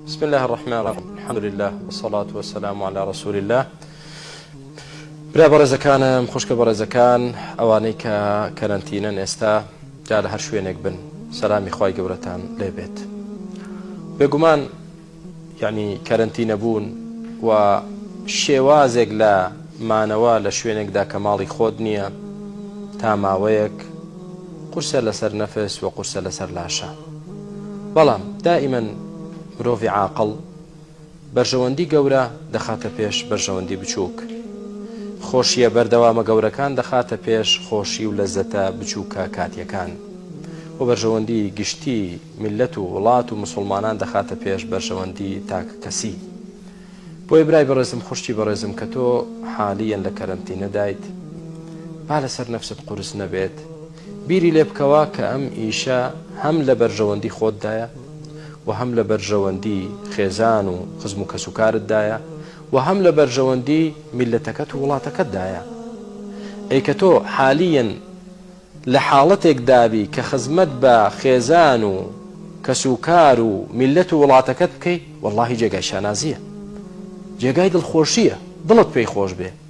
بسم الله الرحمن الرحیم الحمد لله والصلاة والسلام على رسول الله برا بەڕێزەکانم خوشکە بەڕێزەکان ئەوانەی کە کەرەنتینەن ئێستا جا لە هەر شوێنێک بن سەلامی خی گەورەتان لێبێت بێگومان یعنی کەرەنتینە بوون و شێوازێک لە مانەوە لە شوێنێکدا کە ماڵی خۆت نییە تا ماوەیەک قورسە لەسەر نەفس و قورسە لەسەر لاشە بەڵام دائیمەن مرۆڤی عاقڵ بەرژەوەندی گەورە دەخاتە پێش بەرژەوەندی بچووک. خۆشییە بەردەوامە گەورەکان دەخاتە پێش خۆشی و لەزەتە بچووکە کاتییەکان. وە بەرژەوەندی گشتی میللەت و وڵات و مسوڵمانان دەخاتە پێش بەرژەوەندی تاک کەسی. بۆیە برای بەڕێزم خوشکی بەڕێزم کە تۆ حالیەن لە کەرەنتینەدایت با لەسەر نەفست قورس نەبێت، بیری لێ بکەوە کە ئەم ئیشە هەم لە بەرژەوەندی خۆتدایە و هەم لە بەرژەوەندی خێزان و خزم و کەسوکارتدایە و هەم لە بەرژەوەندی میللەتەکەت و وڵاتەکەتدایە. ئەی کە تۆ حالیەن لە حاڵەتێک دابی کە خزمەت بە خێزان و کەسوکار و میللەت و وڵاتەکەت بکەی، وەڵڵاهی جێگای شانازییە. جێگای دڵخۆشییە. دڵت پێی خۆش بێ.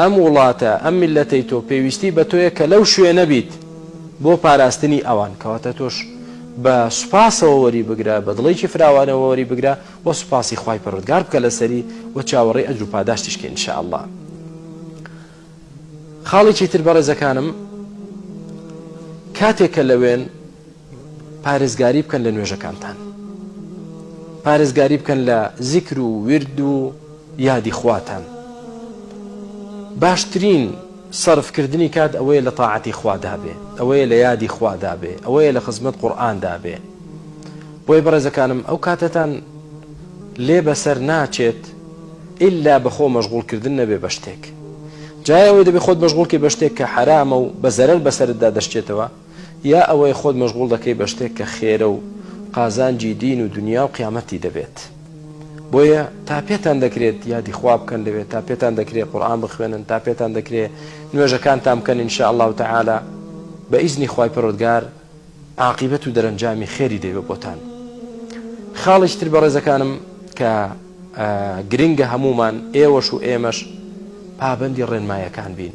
ئەم وڵاتە، ئەم میللەتەی تۆ، پێویستی بە تۆیە کە لەو شوێنە بیت بۆ پاراستنی ئەوان. کەواتە تۆش بە سوپاسەوە وەری بگرە، بە دڵێکی فراوانەوە وەری بگرە و سوپاسی خوای پەروەردگار بکە لەسەری و چاوەڕێی ئەجر و پاداشتیش کە ان شاء اللە. خاڵێکی تر بەڕێزەکانم، کاتێک کە لەوێن، پارێزگاری بکەن لە نوێژەکانتان پارێزگاری بکەن لە زیکر و ورد و یادی خواتان باشترین سەرفکردنی کات ئەوەیە لە تاعەتی خوادابێ ئەوەیە لە یادی خوادابێ ئەوەیە لە خزمەت قورآان دابێ بۆی بەڕێزەکانم ئەو کاتەتان لێ بەسەر ناچێت ئللا بەخۆ مەشغولکردن نەبێ بە شتێک جایەوەی دەبێ خۆت مەشغولکەی بە شتێک کە حرامە و بە زەرەر بەسەردا دەشتێتەوە یا ئەوەی خۆت مەشغوڵ دەکەی بە شتێک کە خێرە و قازانجی دین و دونیا و قیامەتتی دەبێت بۆیە تا پێتان دەکرێت یادی خوا بکەن لەوێ تا پێتان دەکرێت قورئان بخوێنن تا پێتان دەکرێت نوێژەکانتان بکەن ان شاء اللە تعالی بە ئیزنی خوای پەروەردگار عاقبەت و دەرەنجامی خێری دەبێت بۆتان خاڵیش تر بەڕێزەکانم کە گرنگە هەمومان ئێوەش و ئێمەش پابەندی ڕێنمایەکان بین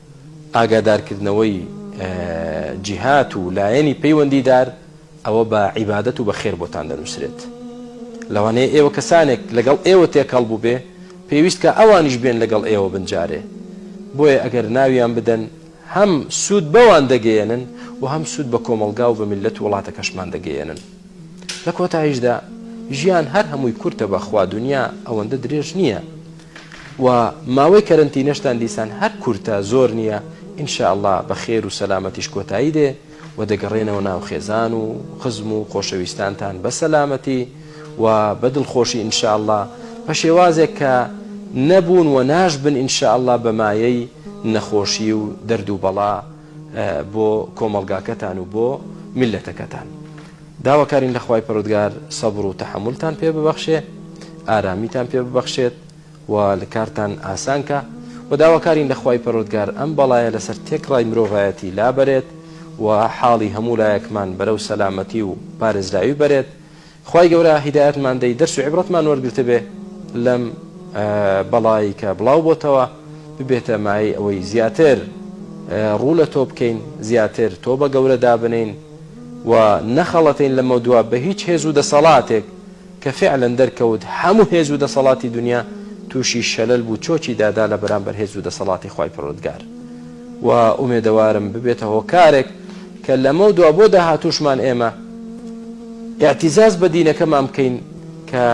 ئاگادارکردنەوەی جیهات و لایەنی پەیوەندیدار ئەوە بە عیبادەت و بە خێر بۆتان دەنووسرێت. لەوانەیە ئێوە کەسانێک لەگەڵ ئێوە تێکەڵ بووبێ پێویستکا ئەوانیش بێن لەگەڵ ئێوە بن جارێ بۆیە ئەگەر ناویان بدەن هەم سوود بەوان دەگەیەنن و هەم سوود بە کۆمەڵگا و بە میللەت و وڵاتەکەشمان دەگەیەنن. لە کۆتاییشدا ژیان هەر هەمووی کورتە بەخوا دنیا ئەوەندە درێژ نییە و ماوەی کەرەنتینەشتان دیسان هەر کورتە زۆر نییە ان شاء اللە بە خێر و سەلامەتیش کۆتایی دێ و دەگەڕێنەوە ناو خێزان و خزم و خۆشەویستانتان بە سەلامەتی و بە دڵخۆشی ان شاء اللە بە شێوازێک کە نەبوون و ناشبن ان شاء اللە بە مایەی نەخۆشی و دەرد و بەڵا بۆ کۆمەڵگاکەتان و بۆ میللەتەکەتان داواکارین لە خوای پەرۆدگار سەبر و تەحملتان پێ ببەخشێ ئارامیتان پێ ببەخشێت و لە کارتان ئاسانکە و داواکارین لە خوای پەرۆدگار ئەم بەڵایە لەسەر تێکڕای مرۆڤایەتی لابەرێت و حاڵی هەموو لایەکمان بەرەو سەلامەتی و پارێزراوی بەرێت خوای گەورە هیدایەتمان دەی دەرس و عیبرەتمان وەرگرتبێ لەم بەڵای کە بڵاو بۆتەوە ببێتە مایەی ئەوەی زیاتر ڕوو لە تۆ بکەین زیاتر تۆ بە گەورە دابنین و نەخەڵەتین لەمە دوا بە هیچ هێز و دەسەڵاتێک کە فعلەن دەرکەوت هەموو هێز و دەسەڵاتی دنیا تووشی شەلەل بوو چۆکی دادا لە بەرامبەر هێز و دەسەڵاتی خوای پەروەردگار و ئومێدەوارم ببێتە هۆکارێک کە لەمەو دوا بۆ داهاتووشمان ئێمە ئیعتیزاز بە دینەکەمان بکەین کە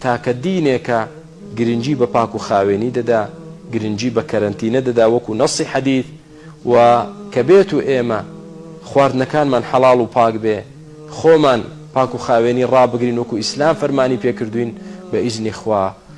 تاکە دینێکە گرنگی بە پاک و خاوێنی دەدا، گرنگی بە کەرەنتینە دەدا وەکو نەصی حەدیث و کە بێت و ئێمە خواردنەکانمان حەڵاڵ و پاک بێ خۆمان پاک و خاوێنی ڕابگرین وەکو ئیسلام فەرمانی پێکردووین بە ئیزنی خوا.